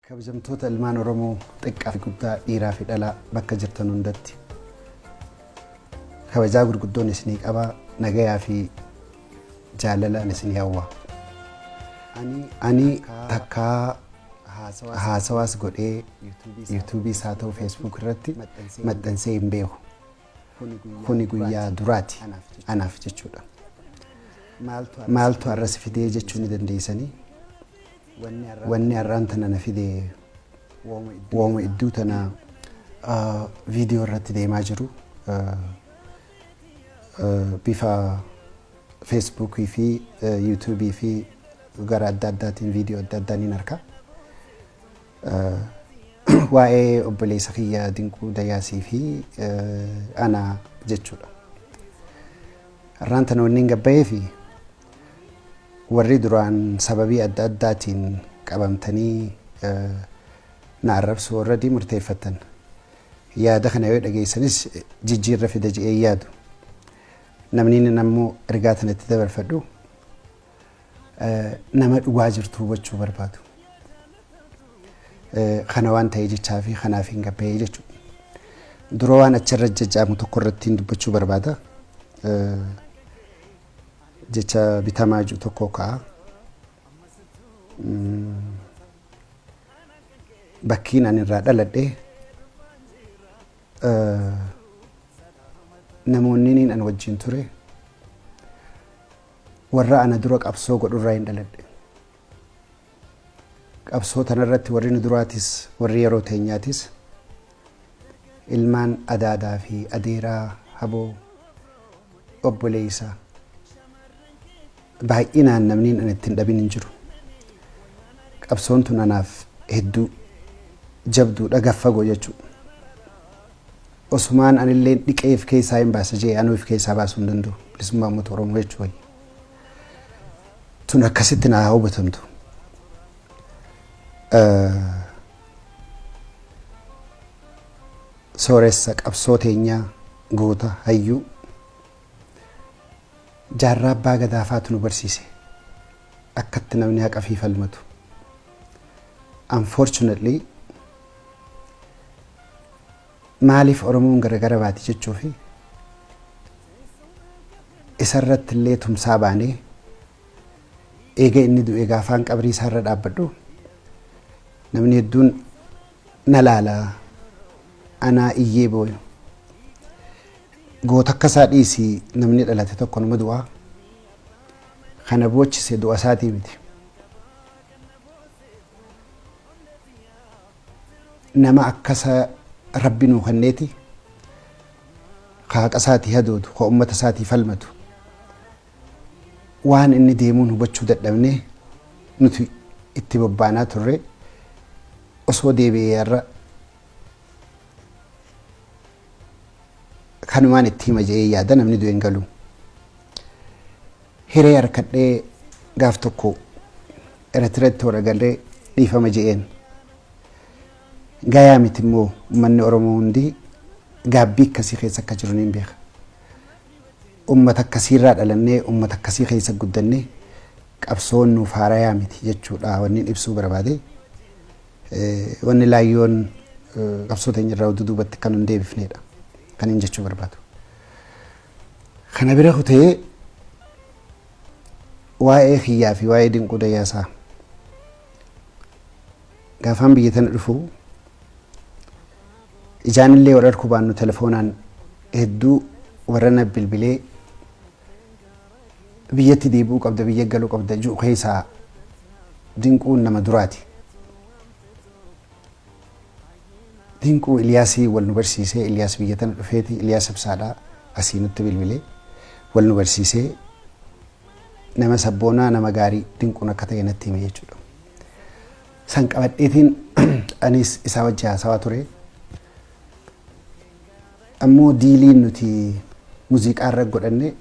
Kabajamtoota ilmaan Oromoo xiqqaa fi guddaa dhiiraa fi dhalaa bakka jirtan hundatti kabajaa gurguddoon isinii qabaa nagayaa fi jaalalaan isin hawwa. Ani takkaa haasawaas godhee yuutuubiis haa ta'u feesbuuk irratti maxxansee hin beeku. Kuni guyyaa duraati anaaf jechuudha. Maaltu har'a si fidee jechuu ni dandeessanii? Wanni har'aan tana na fidee wooma idduu tana viidiyoo irratti deemaa jiru. bifa Facebook fi YouTube fi gara adda addaatiin viidiyoo adda addaa niin arka. Waa'ee obboleessa kiyya Dinquu Dayaasii fi ana jechuudha. Har'aan tana wanni hin gabbayee fi warri duraan sababii adda addaatiin qabamtanii na arrabsuu irratti murteeffattan. Yaada kana yoo dhageessanis jijjiirra fida je'ee yaadu. Namniin ammoo ergaa tana itti dabarfadhu nama dhugaa jirtu hubachuu barbaadu. Kana waan ta'ee jechaa fi kanaaf hin gabbee jechuudha. Dura waan achirra jajjaamu tokko irratti hin dubbachuu barbaada. Jecha bitamaa jiru tokko ka'a. bakkiin ani irraa dhaladhe namoonni niin an wajjin ture warra ana dura qabsoo godhu irraa hin dhaladhe. Qabsoo tanarratti warri nu duraatis warri yeroo teenyaatis ilmaan adaadaa fi adeeraa haboo obboleessa baay'inaan namniin ani ittiin dhabin hin jiru. Qabsoon tun anaaf hedduu jabduudha gaf fagoo jechuudha. Osumaan anillee dhiqee if keessaa hin baasa jee anuu if keessaa baasuu hin danda'u bilisummaa uummata Oromoo jechuu wayya. Tun akkasitti naa hubatamtu. Sooressa qabsoo teenyaa, goota, hayyuu Jaarraa Abbaa Gadaa faatu nu barsiise akkatti namni haqafii falmatu. Unfortunately maaliif Oromoon garagara baati jechuu fi isarratti illee tumsaa baanee Eega inni du'ee gaafaan qabrii isaa irra dhaabbadhu namni hedduun na laala anaa iyyee booyu. Goota akka isaa dhiisi namni dhalate tokko nama du'a. Kana boochise du'a isaatii miti. Nama akka isaa rabbi nuu kenneeti ka haqa isaatii hadoodu ka ummata isaatii falmatu. waan inni deemuun hubachuu dadhabnee nuti itti bobbaanaa turre osoo deebi'ee irra kanumaan itti hima jedhee yaada namni du'e hin galu. Hiree harkadhee gaaf tokko Eritireetti warra galee dhiifama jedheen. Gayaa miti immoo uummanni Oromoo hundi gaabbii akkasii keessa akka jiru niin beeka. Ummata akkasiirraa dhalannee, ummata akkasii keessa guddanne, qabsoon nuuf haarayaa miti jechuudha wannin ibsuu barbaade. Wanni laayyoon qabsoo teenyarraa oduu duubatti akka nun deebifneedha kanin jechuu barbaadu. Kana bira kutee waa'ee kiyyaa fi waa'ee dinquu dayyaasaa gaafaan biyya tana dhufu Ijaan illee wal arkuu baannu telefoonaan hedduu warra na bilbilee biyyatti deebi'uu qabda biyya galuu qabda ju'u keessaa Dinquun nama duraati. Dinquu Iliyaasii wal nu barsiisee Iliyaas biyya tana dhufeeti Iliyaas Ibsaadhaa asii nutti bilbilee wal nu barsiisee nama sabboonaa nama gaarii Dinquun akka ta'e natti hime jechuudha. San qabadheetiin anis isaa wajji haasawaa ture. Ammoo diiliin nuti muuziqaa irra godhanne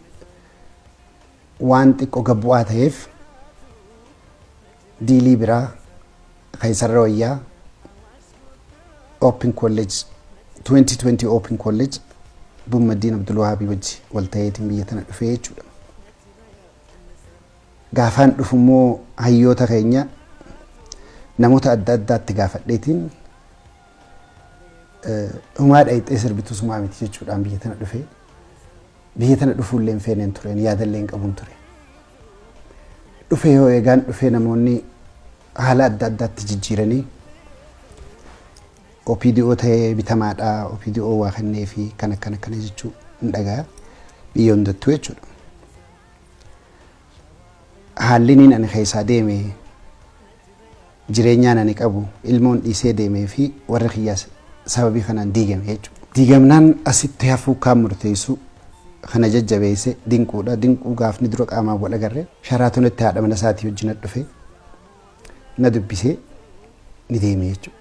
waan xiqqoo gad bu'aa ta'eef diilii biraa kan isarra wayyaa Open College 2020 Open College Bummaddiin Abdulwahaabii wajji wal ta'eetiin biyya tana dhufee jechuudha. Gaafaan dhufu immoo hayyoota keenya namoota adda addaatti gaafadheetiin humaa dhayixee sirbitu sumaa miti jechuudhaan biyya tana dhufe. Biyya tana dhufuullee hin feeneen tureen yaadallee hin qabun ture. Dhufee hoo eegaan dhufee namoonni haala adda addaatti jijjiiranii OPDO ta'ee bitamaadha, OPDO waa kennee fi kan akkana akkana jechuu hin dhagaya. Biyya hundattuu jechuudha. Haalliniin ani keessaa deeme, jireenyaan ani qabu, ilmoon dhiisee deemee fi warri kiyyaas sababii kanaan diigame jechuudha. Diigamnaan asitti hafuu kaan murteessu kan na jajjabeesse Dinquudha. Dinquu gaafni dura qaamaan wal agarre Sharaatonitti haadha mana isaatii wajjin dhufe na dubbisee ni deeme jechuudha.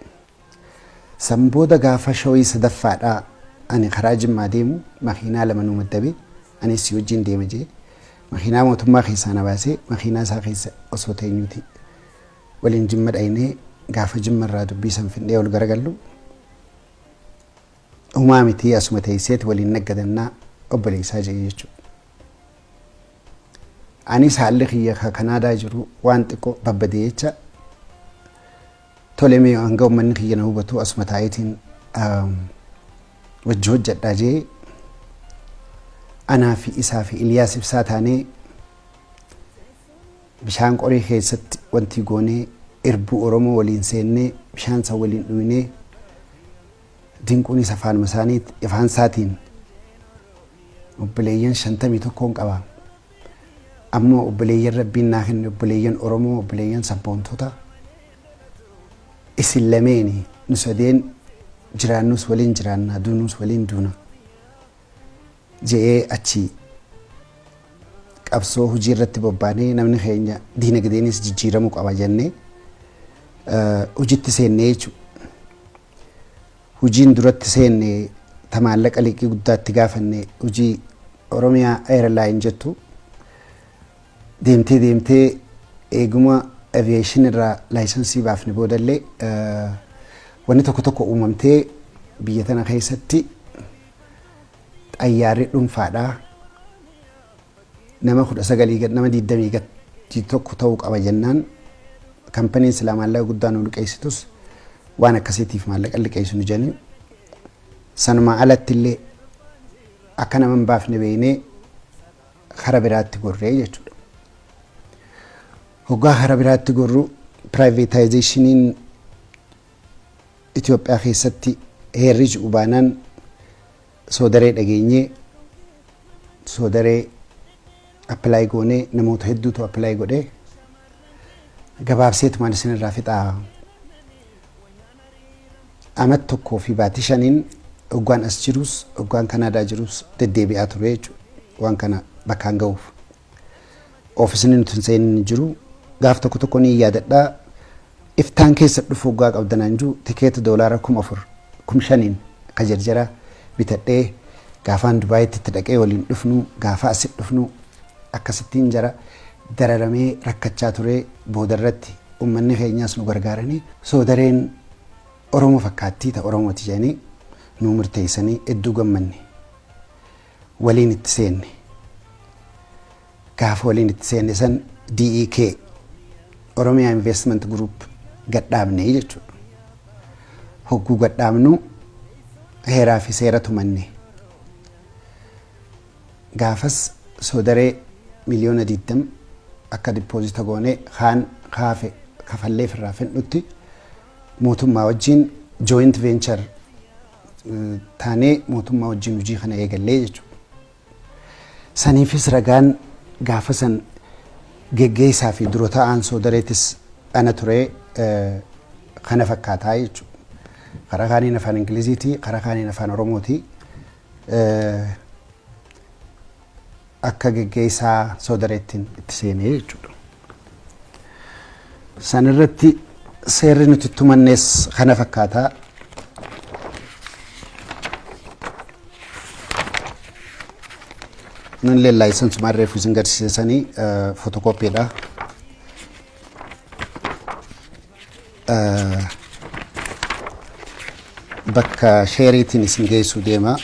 San booda gaafa showii sadaffaadha ani karaa Jimmaa deemu makiinaa lama nu maddabe. Anis si wajjin deema jee makiinaa mootummaa keessaa na baasee makiinaa isaa keessa osoo teenyuuti waliin Jimma dhaynee gaafa Jimma irraa dubbii san findhee ol garagallu humaa mitii asuma teesseeti waliin naggadannaa obboleessaa jee jechuudha. Anis haalli kiyya ka Kanaadaa jiru waan xiqqoo babbadee jecha Tole mee hanga ummanni kiyya na hubatu asuma taa'eetiin wajji hojjedhaa jee anaa fi isaa fi Iliyaas ibsaa taanee bishaan qoree keessatti wantii goonee irbuu Oromoo waliin seennee bishaan san waliin dhuynee dinquunis afaanuma isaanii ifaan isaatiin obboleeyyan shantamii tokkoon qaba. Amma obboleeyyan Rabbiin naa kenne obboleeyyan Oromoo obboleeyyan sabboontota isin lameeni nu sadeen jiraannus waliin jiraanna duunuus waliin duuna je'ee achi qabsoo hojii irratti bobbaanee namni keenya diinagdeenis jijjiiramuu qaba jennee hojitti seennee jechuudha. Hojiin duratti seenne ta maallaqa liqii guddaa itti gaafanne hojii Oromia Airline jettu deemtee deemtee eeguma aviation irraa laayisansii baafne boodallee wanni tokko tokko uumamtee biyya tana keessatti xayyaarri dhunfaadhaa Nama 19 gad nama 20 gad tokko ta'uu qaba jennaan kampaniin silaa maallaqa guddaa nu liqeessitus waan akkasiitiif maallaqa liqeessu nu jedhanii sanumaa alatti illee akka nama hin baafne beeknee kara biraatti gorree jechuudha. Hoggaa kara biraatti gorru piraayiveetaayizeeshiniin Itoophiyaa keessatti heerri ji'u baanaan Soodaree dhageenyee soodaree appilaayi goonee namoota hedduutu appilaayi godhee gabaabseetu maal isin irraa fixaa amat tokkoo fi baatii shaniin oggaan as jirus oggaan kanaadaa jirus deddeebi'aa ture jechuudha waan kana bakkaan ga'uuf. oofisni nuti hin seenin hin jiru. Gaaf tokko tokko ni yaadadha. Iftaan keessa dhufu hoggaa qabda naan jiru tikeeta doolaara kuma afur kum shaniin ka jarjara bitadhee gaafaan Dubaayitti itti dhaqee waliin dhufnu gaafa asi dhufnu akkasittiin jara dararamee rakkachaa ture boodarratti uummanni keenyaas nu gargaaranii soodareen Oromoo fakkaattii ta Oromooti jedhanii nu murteessanii hedduu gammanne. waliin itti seenne. Gaafa waliin itti seenne san DEK Oromiyaa Investment Group gadhaabne jechuudha. Hogguu gadhaabnu heeraa fi seera tumanne. Gaafas soodaree miliyoona 20 akka dippoozita goonee kaan kaafe kafallee firraa fedhutti mootummaa wajjin joint venture taanee mootummaa wajjin hojii kana eegallee jechuudha. Saniifis ragaan gaafa san geggeessaa fi dura ta'aan soodareetis ana ture kana fakkaataa jechuudha. Karaa kaaniin afaan Ingiliziiti, karaa kaaniin afaan Oromooti. akka geggeessaa soodareettiin itti seene jechuudha. San irratti seerri nuti itti tumannees kana fakkaata. Nun leellaayisan sumaan reefu isin garsiisanii fotokoopiidha. bakka sheeriitiin isin geessuu deema.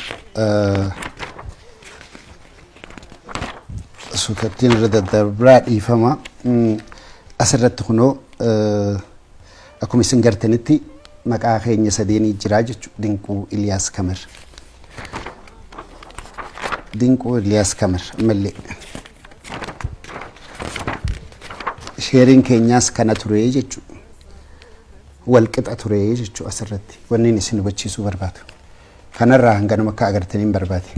Suutattiin irra daddarbaa dhiifama. Asirratti kunoo akkuma isin gartanitti maqaa keenya sadeenii jiraa jechuudha. Dinquu Iliyaas Kamir. Dinquu Iliyaas Kamir ammallee. Sheeriin keenyaas kana ture jechu. Wal qixa ture jechu asirratti. Wanni inni isin hubachiisuu barbaadu. Kanarraa hanganuma akka agartaniin barbaade.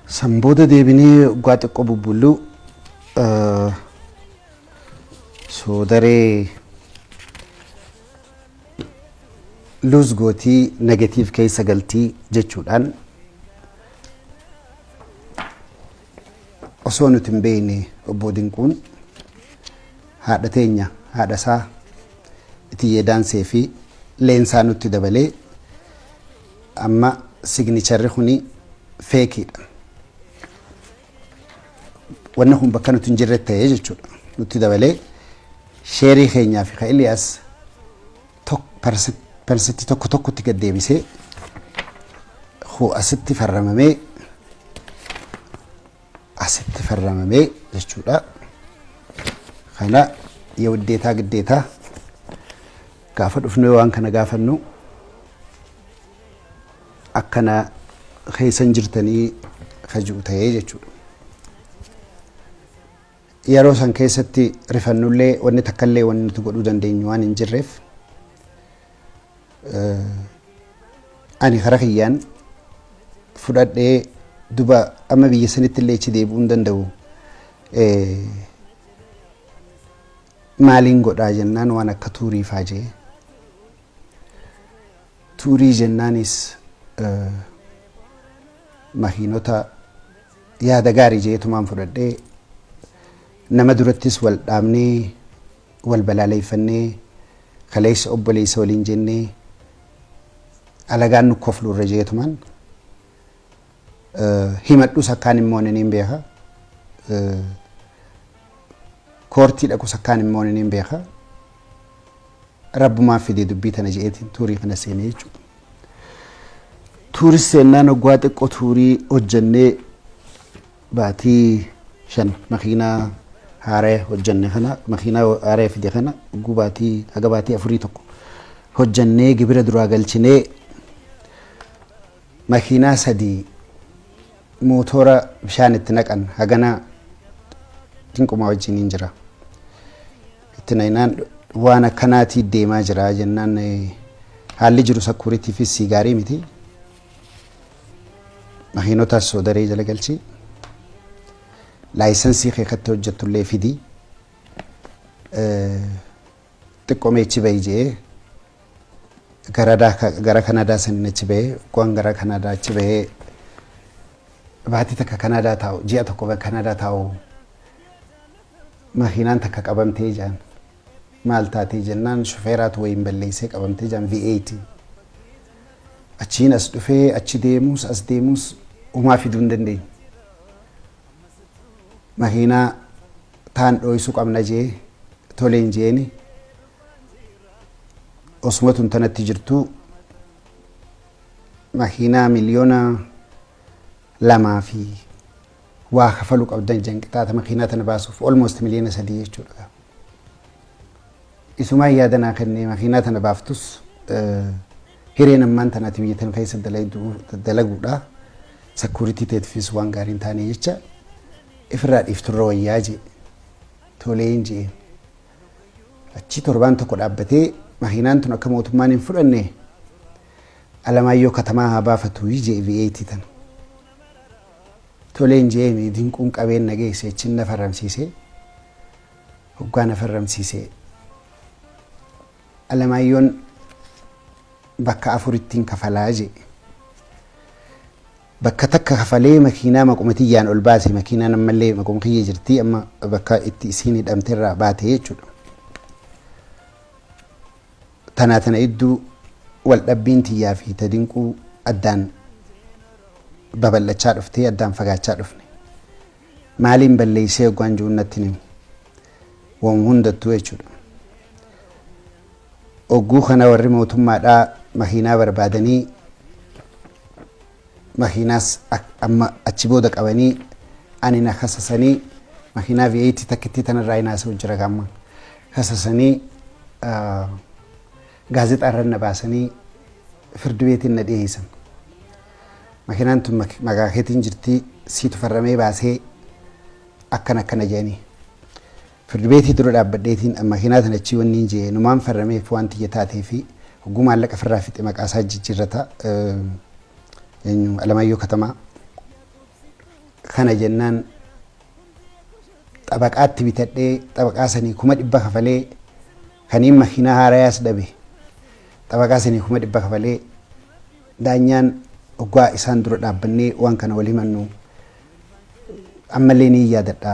San booda deebinee waggaa xiqqoo bubbulluu eh, soodaree luus gootii negatiiv keessa galtii jechuudhaan osoo nuti hin beekne obbo Dinquun haadha teenya haadha isaa Itiyyee Daansee fi leensaa nutti dabalee amma signicharri kuni feekiidha. Wanni kun bakka nuti hin jirre ta'ee jechuudha. Nutti dabalee sheerii keenyaa fi ka Iliyaas persetti tokko tokkotti gad deebisee hoo asitti farramamee asitti farramamee jechuudha. Kana yoo giddeetaa giddeetaa gaafa dhufnu waan kana gaafannu akkana keessan jirtanii kaji'u ta'ee jechuudha. Yeroo san keessatti rifannullee wanni takkallee wanni nuti godhuu dandeenyu waan hin jirreef ani kara kiyyaan fudhadhee duba amma biyya sanitti illee ichi deebi'uu hin danda'u maaliin godhaa jennaan waan akka tuurii faa jee tuurii jennaanis makiinota Yaada gaarii jeetumaan fudhadhee nama durattis wal dhaabnee wal balaaleeffannee kaleessa obboleessa waliin jennee alagaan nu koflu irra jeetumaan himadhus akkaan hin moone niin beeka. Koortii dhaqus akkaan hin moone niin beeka. Rabbumaan fidee dubbii tana je'eetiin tuurii kana seene jechuudha. Tuuris seennaan hoggaa xiqqoo tuurii hojjannee baatii shan makiinaa haaraya hojjanne kana makiinaa haaraya fide kana hogguu baatii haga baatii afurii tokko hojjannee gibira duraa galchinee makiinaa sadii mootora bishaan itti naqan hagana dinqumaa wajjiniin jira. Itti naynaan waan akkanaatii deemaa jira jennaan haalli jiru sakkuuritiifis sii gaarii miti. Makiinotaas soodaree jala galchi. Laayisansii kee kattee hojjettullee fidi. Xiqqoomee achi bahi jedhee gara Kanaadaa saniin achi bahee waan gara Kanaadaa achi bahee baatii takka Kanaadaa taa'u ji'a tokko Kanaadaa taa'u Makiinaan takka qabamtee jaan. Maal taatee jennaan shufeeraatu wayiin balleessee qabamtee jaan V8. Achiin as dhufee achi deemuus as deemuus umaa fiduu hin dandeenye. Makiinaa taan dhooysuu qabna jee toleen jeeni osuma tun tanatti jirtuu makiinaa miliyoona lamaa fi waa kafalu qabdan jan qixaata makiinaa tana baasuuf almost miliyoona sadii jechuudha gaa. Isumaan yaada naa kenne makiinaa tana baaftus hireen ammaan tanaati biyya tana keessa dalaguudha. Sakuuritii teetiifis waan gaarii hin taane jecha ifirraa dhiifturra wayyaa jee toleen jeen. Achii torbaan tokko dhaabbatee makiinaan tun akka mootummaan hin fudhanne Alamaayyoo katamaa haa baafatu jee V8 tana. Toleen je'eeni dinquun qabeen na geesse achiin na farramsiise. Hoggaa na farramsiise Alamaayyoon bakka afurittiin kafalaa je'e. Bakka takka kafalee makiinaa maquma tiyyaan ol baase makiinaan ammallee maquma kiyya jirti amma bakka itti isiin hidhamterraa baate jechuudha. Tanaa tana idduu waldhabbiin tiyyaa fi ta Dinquu addaan babal'achaa dhuftee addaan fagaachaa dhufne. Maaliin balleessee hoggaan ju'uun natti hin himu. Woma hundattuu jechuudha. Hogguu kana warri mootummaadhaa makiinaa barbaadanii makiinaas amma achi booda qabanii ani na kasasanii makiinaa V8 takkittii tanarraa hin haasa'u jira amma kasasanii gaazexaa irra na baasanii firdi beetiin na dhiyeessan. Makiinaan tun maqaa keetiin jirti siitu farramee baasee akkana akkana jedhanii. Firdibeetii dura dhaabbadheetiin makiinaa tana achii wanniin je'e numaan farrameef waan tiyya taateefi hogguu maallaqa firraa fixe maqaasaa jijjirrata eenyu Alamaayyoo Katamaa kana jennaan xabaqaatti bitadhee xabaqaa sanii kuma dhibba kafalee kaniin makiinaa haarayaas dhabe xabaqaa sanii kuma dhibba kafalee daanyaan oggaa isaan dura dhaabbannee waan kana wal himannu ammallee ni yaadadha.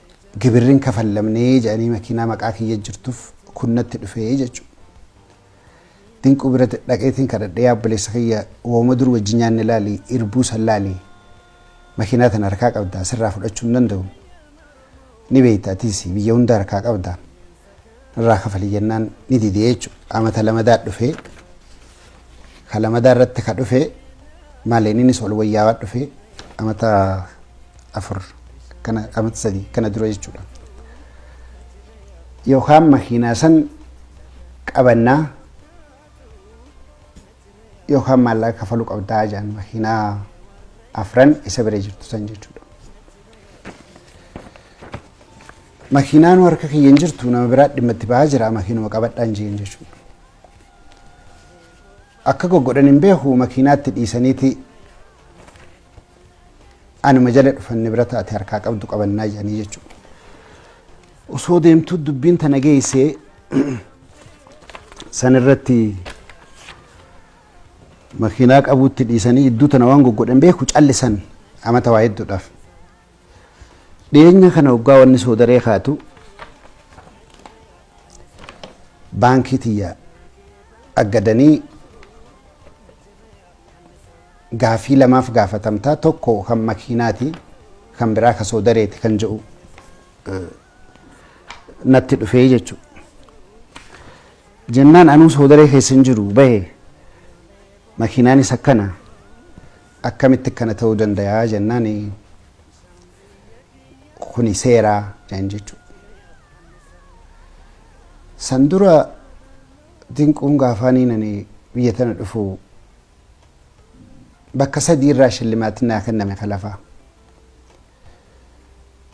gibirri hin kafallamne jedhanii makiinaa maqaa kiyya jirtuuf kun natti dhufe jechuudha. Dinquu bira dhaqeetiin kadhadhee yaa obboleessa kiyya wooma dur wajjin nyaanne laali irbuu san laali makiinaa tana harkaa qabda sirraa fudhachuu hin danda'u ni beekta atiis biyya hunda harkaa qabda Nurraa kafali jennaan ni dide jechu. Qaama ta lamadaa dhufe. Ka lamadaa irratti ka dhufe maaleen innis ol wayyaawaa dhufe. Amata afur kana amata sadi kana dura jechuudha. Yookaan makiinaa san qabannaa yookaan maallaqa kafaluu qabdaa jedhan makiinaa afran isa bira jirtu san jechuudha. Makiinaanu harka kiyya hin jirtu nama biraat dhimma itti bahaa jira makiinuma qabadhaan jeen jechuudha. Akka goggodhan hin beeku makiinaatti dhiisaniiti anuma jala dhufan nibirata ati harkaa qabdu qabannaa jedhanii jechuudha. Osoo deemtuu dubbiin tana geessee san irratti makiinaa qabuutti dhiisanii iddoo tana waan goggodhan beeku callisan amata waa hedduudhaaf. Dhiyeenya kana hoggaa wanni soodaree kaatu baankii tiyya aggadanii gaafii lamaaf gaafatamtaa tokko kan makiinaati kan biraa ka soodareeti kan jedhu natti dhufee jechuudha. Jennaan anuu soodaree keessa hin jiru bahe makiinaanis akkana. akkamitti akkana ta'uu dandayaa jennaan kuni seeraa naan jechuu san dura dinquun gaafaaniin ani biyya tana dhufu bakka sadii irraa shillimaatiin naa kenname ka lafaa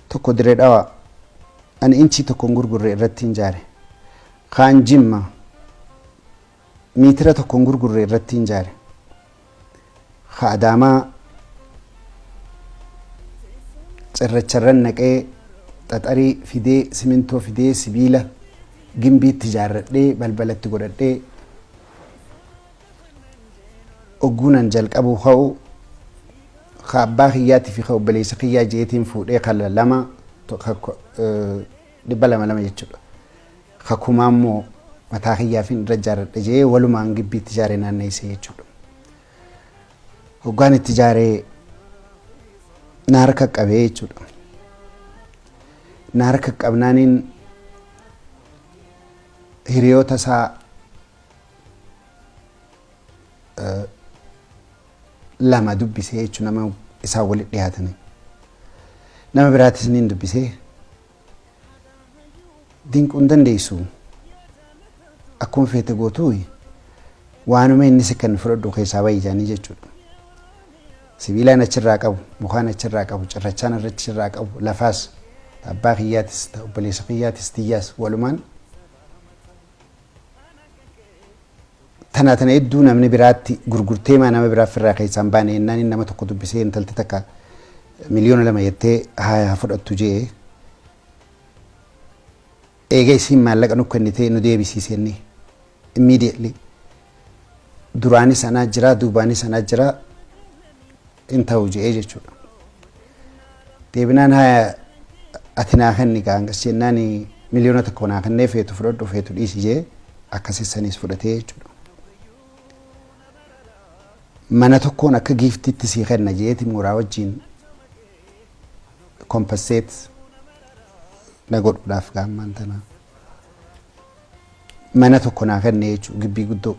tokko diree dhawa ani inchii tokko hin gurgurre irratti hin jaare kaan jimma Miitira tokko hin gurgurre irrattiin jaare. Ka Adaamaa cirracharran naqee xaxarii fidee simintoo fidee sibiila gimbiitti jaarradhee balbalatti godhadhee ogguunan jalqabuu ka'u ka abbaa kiyyaatii fi ka obboleessa kiyyaa jeetiin fuudhee ka lama dhibba lama lama jechuudha. Kakumaa immoo mataa kiyyaafin irra ijaarradha jedhee walumaan gibbii itti ijaaree naanneessee jechuudha. Hoggaan itti ijaaree na harka qabee jechuudha. Na harka qabnaaniin hiriyoota isaa eh, lama dubbisee jechuun nama isaan walitti dhiyaatanii. Nama biraatis niin dubbisee dinquu hin dandeessu akkuma feete gootuuyi waanuma inni si kan fudhadhu keessaa bahi isaanii jechuudha. Sibiilaan achirraa qabu, mukaan achirraa qabu, cirrachaan irratti achirraa qabu, lafaas abbaa kiyyaatis, obboleessa kiyyaatis, tiyyaas walumaan Tana tana edduu namni biraatti gurgurteemaa nama biraa firraa keessaa hin baane ennaan inni nama tokko dubbisee intalti takka miliyoona lama jettee haaya haa fudhattu je'e. Eega isiin maallaqa nu kennitee nu deebisii senni immediately duraanis anaa jiraa duubaanis anaa jiraa hin ta'u je'ee jechuudha. Deebinaan haya ati naa kenni kaa hangas jennaan miliyoona tokko naa kennee feetu fudhadhu feetu dhiisi jee akkasi saniis fudhatee jechuudha. Mana tokkoon akka giiftitti sii kenna jeeti mooraa wajjin kompasseet na godhuudhaaf gaammaan tana. Mana tokko naa kenne jechuudha gibbii guddoo.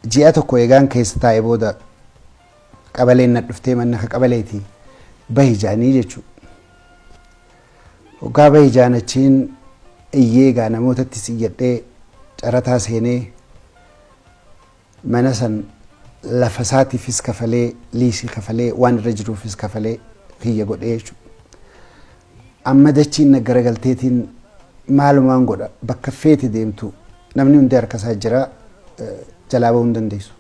Ji'a tokko eegaan keessa taa'e booda qabaleen na dhuftee manna ka qabaleeti bahi ja'anii jechuu. Hoggaa bahi ja'an achiin iyyee egaa namootattis iyyadhee carataa seenee mana san lafa isaatiifis kafalee liisii kafalee waan irra jiruufis kafalee kiyya godhee jechuudha. Amma dachiin na garagalteetiin maalumaan godha bakka feete deemtu namni hundi harka isaa jira jalaa bahuu hin dandeessu.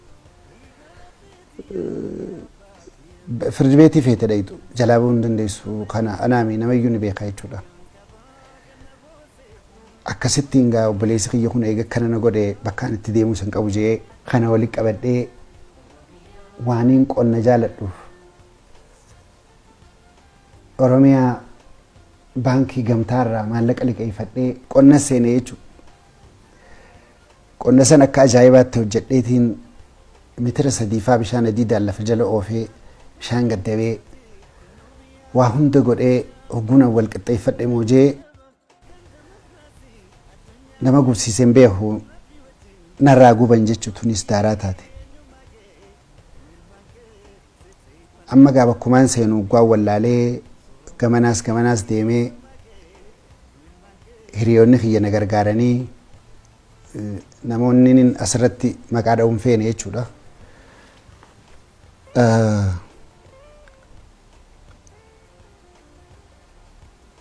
Firdi beetii feete dhayitu jalaa bahuu hin dandeessu kana anaami namayyuu ni beekaa jechuudha. Akkasitti hingaa obboleessi kiyya kun eega akkana na godhe bakkaan itti deemuu isan qabu jee kana walitti qabadhee waaniin qonna jaaladhuuf Oromiyaa baankii gamtaa irraa maallaqa liqeeffadhee qonna seene jechuudha. Qonna san akka ajaa'ibaatti hojjedheetiin mitira sadiifaa bishaan adiidaan lafa jala oofee bishaan gaddabee waa hunda godhee hogguun wal qixxeeffadhe moojee nama gubsiisen beeku narraa guban jechu tunis daaraa taate amma gaa bakkumaan seenu ugguwaan wallaalee gamanaas gamanaas deemee hiriyoonni kiyya na gargaaranii namoonni asirratti maqaa dha'uun feene jechuudha.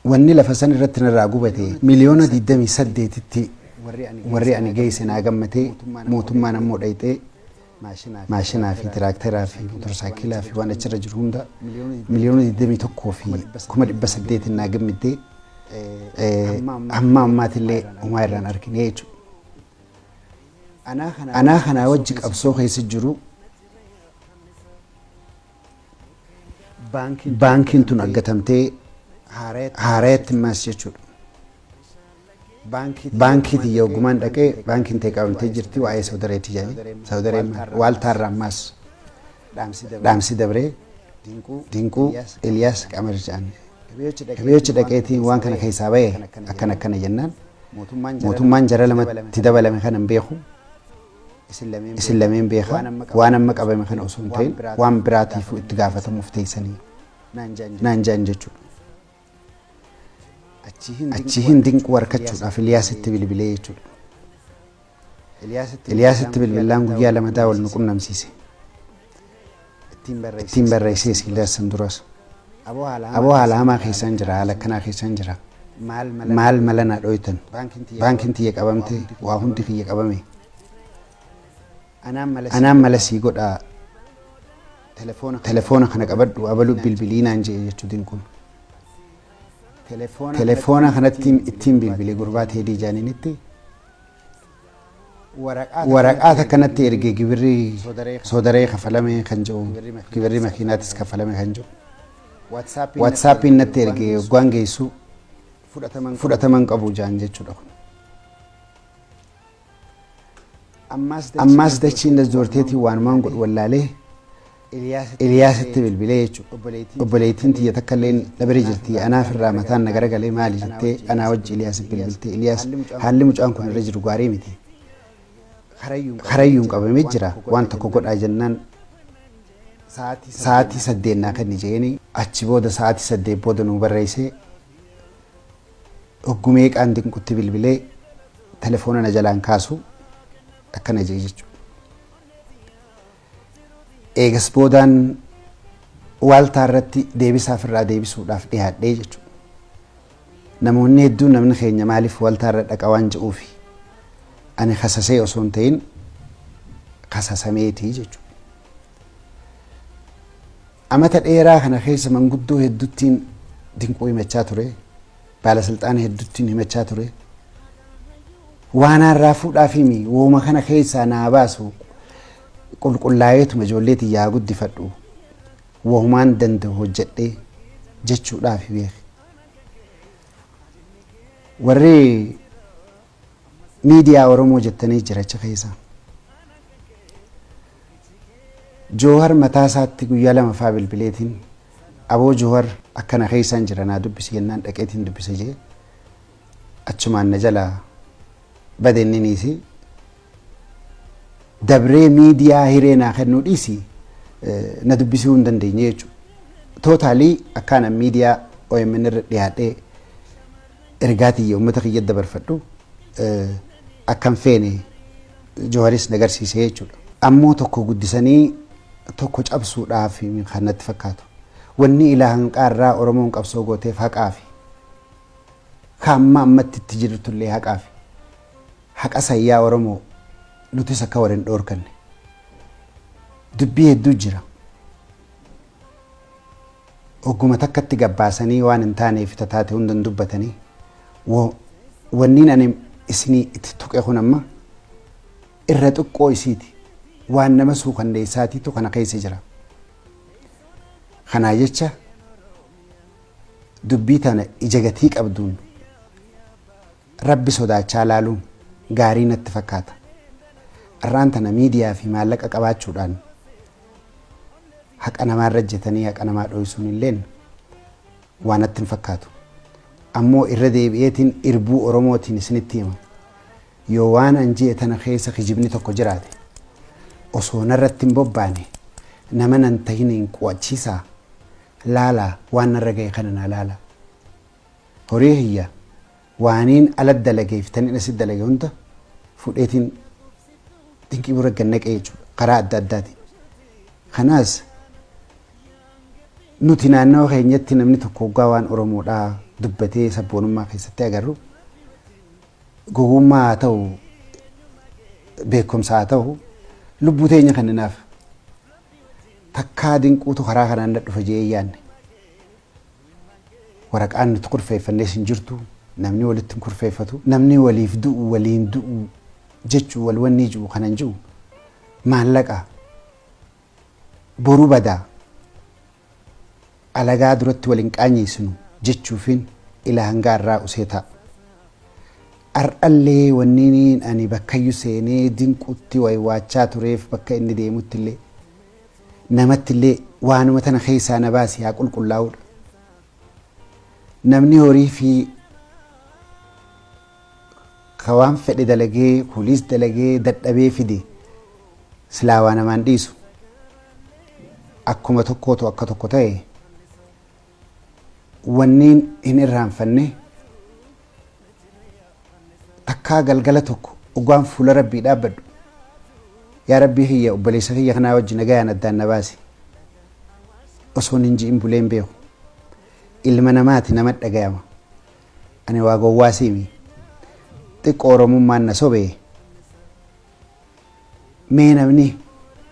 Wanni lafa san irratti narraa gubate miliyoona 28tti warri ani geesse naa gammadee mootummaan ammoo dhayxee maashinaa fi tiraakteraa fi motorsaakilaa fi waan achirra jiru hunda miliyoona 21 fi kuma 800 naa gammiddee hamma ammaatillee homaa irraan arginee jechuudha. Anaa kanaa wajji qabsoo keessa jiru Baankiin tun aggatamtee haarayatti maas jechuudha. Baankii tiyya hoggumaan dhaqee baankiin tee qabamtee jirti waa'ee sawdareetti jedhanii sawdareen maal waaltaarraa maas dhaamsi dabree dinquu Eliyaas Qamar jedhan. Hibeechi dhaqeetiin waan kana keessaa ba'e akkana akkana jennaan mootummaan jara lamatti dabalame kana hin beeku. Isin lameen beekaa waan amma qabame kana osoo hin ta'in waan biraatiifuu itti gaafatamuuf teessanii naan jaan jechuudha. Achiin dinquu harkachuudhaaf Iliyaasitti bilbilee jechuudha. Iliyaasitti bilbilaan guyyaa lama daa wal nu qunnamsiise. ittiin barreessee sii darsan duras aboo haala hamaa keessaan jira haala akkanaa keessaan jira maal mala na dhoytan baankiin tiyya qabamte waa hundi kiyya qabame anaan mala sii godhaa telefoona kana qabadhu abalu bilbilii naan jee jechuu dinquun telefoona kanatti ittiin bilbilee gurbaa teedii jaaninitti waraqaa takka natti erge gibirri soodaree kafalame kan jiru gibirri makiinaatis kafalame kan jiru waatsaappiin natti erge waggaan geessu fudhataman qabu jaan jechuudha kun. Ammaas dachiin dasdoorteetiin waanumaan godhu wallaalee Eliyaasitti bilbilee jechuudha. Obboleettiin tiyya takka illee dhabere jirti anaaf irraa mataan na garagalee maali jettee anaa wajji Eliyaasiif bilbilte. Eliyaas haalli mucaan kun irra jiru gaarii miti. Karayyuun qabamee jira waan tokko godhaa jennaan sa'aatii saddeet naa kenni jeeni achi booda sa'aatii saddeet booda nuu barreessee hoggumee qaan dinqutti bilbilee telefoona na jalaan kaasu akkana jee jechuudha. Eegas boodaan waaltaa irratti deebisaa ofirraa deebisuudhaaf dhiyaadhee jechuudha. Namoonni hedduun namni keenya maaliif waaltaa irra dhaqa waan jedhuufi ani kasasee osoo hin ta'in kasasameeti jechuudha. Amata dheeraa kana keessa manguddoo hedduttiin dinquu himachaa ture. baalasilxaana hedduttiin himachaa ture. Waanaan raafuudhaaf himi wooma kana keessaa naa baasu qulqullaa'eetuma ijoollee tiyyaa guddifadhu wohumaan danda'u hojjedhee jechuudhaaf beeki. Warri miidiyaa Oromoo jettanii jira achi keessa. Joohar mataa isaatti guyyaa lama faa bilbileetiin aboo Joohar akkana keessaan jira naa dubbisi jennaan dhaqeetiin dubbise jee achumaan na jalaa bade inniniisi. dabree miidiyaa hiree naa kennuu dhiisi na dubbisuu hin dandeenye jechuudha. Tootaalii akkaan an miidiyaa OMN irra dhiyaadhee ergaa tiyya uummata kiyya dabarfadhu akkan feene Jawaaris na garsiise jechuudha. Ammoo tokko guddisanii tokko cabsuudhaaf kan natti fakkaatu. Wanni ilaa hanqaa irraa Oromoon qabsoo gooteef haqaafi. Kaamma ammatti itti jirtullee haqaafi. Haqa san yaa Oromoo nutis akka wal hin dhoorkanne. Dubbii hedduu jira. Ogguma takkatti gabbaasanii waan hin taanee fi tataate hunda hin dubbatanii. Wo- Wanniin ani isinii itti tuqe kun amma irra xiqqoo isiiti. Waan nama suukanneessaatiitu kana keessa jira. Kanaa jecha dubbii tana ija gatii qabduun Rabbi sodaachaa laaluun gaarii natti fakkaata. Arraan tana miidiyaa fi maallaqa qabaachuudhaan haqa namaa irra ejjetanii haqa namaa dhooysuun illeen waa natti hin fakkaatu. Ammoo irra deebi'eetiin irbuu Oromootiin isinitti hima. Yoo waan an je'e tana keessa kijibni tokko jiraate osoo narratti hin bobbaane nama nan tahiniin qu'achiisaa laalaa waan narra gahe kana naa laalaa. horii kiyya waaniin ala dalagee fi taniin asi dalage hunda fudheetiin dinqii bira gad naqee jechuudha karaa adda addaatiin. Kanaas nuti naannawa keenyatti namni tokko hoggaa waan Oromoodhaa dubbatee sabboonummaa keessatti agarru gowwummaa haa ta'u beekumsa haa ta'u lubbuu teenya kenninaaf takkaa dinquutu karaa kanaan na dhufa jee yaanne. Waraqaan nuti kurfeeffannes hin jirtu. Namni walitti hin kurfeeffatu. Namni waliif du'u waliin du'u jechu wal wannii ji'u kanan ji'u maallaqa boru bada alagaa duratti wal hin qaanyeessinu jechuufin ila hangaa irraa usee ta'a. Ar'allee wanniin ani bakkayyu seenee dinqutti waywaachaa tureef bakka inni deemutti illee. namattillee waanuma tana keessaa na baasi haa qulqullaa'uudha. Namni horii fi ka waan fedhe dalagee kuliis dalagee dadhabee fide silaa waa namaan dhiisu akkuma tokkootu akka tokko ta'e Wanniin hin irraanfanne, takkaa galgala tokko ogaan fuula Rabbii dhaabbadhu, Yaa Rabbii kiyya obboleessa kiyya kanaa wajji nagayaan addaan na baasi. Osoon hin ji'in bulee hin beeku. Ilma namaati nama dhagayama. Ani waa gowwaa siimi. Xiqqoo Oromummaan na sobe. Mee namni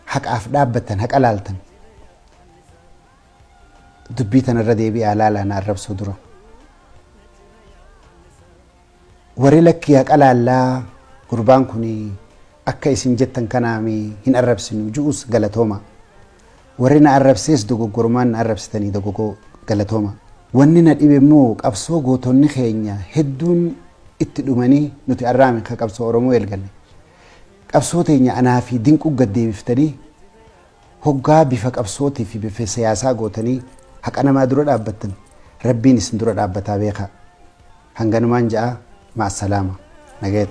haqaaf dhaabbattan haqa laaltan. dubbii tana irra deebi'aa laalaa na arrabsuu dura. Warri lakkii haqa laallaa gurbaan kun akka isin jettan kanaami hin arrabsinu ju'us galatooma. Warri na arrabsees dogoggorumaan na arrabsitanii dogogoo galatooma. Wanni na dhibe immoo qabsoo gootonni keenya hedduun itti dhumanii nuti arraami ka qabsoo Oromoo eelgalle. Qabsoo teenya anaa fi dinquu gad deebiftanii Hoggaa bifa qabsootii fi bifa siyaasaa gootanii haqa namaa dura dhaabbattan Rabbiin isin dura dhaabbataa beekaa. Hanganumaan ja'a, ma'assalaama. Nagayatti.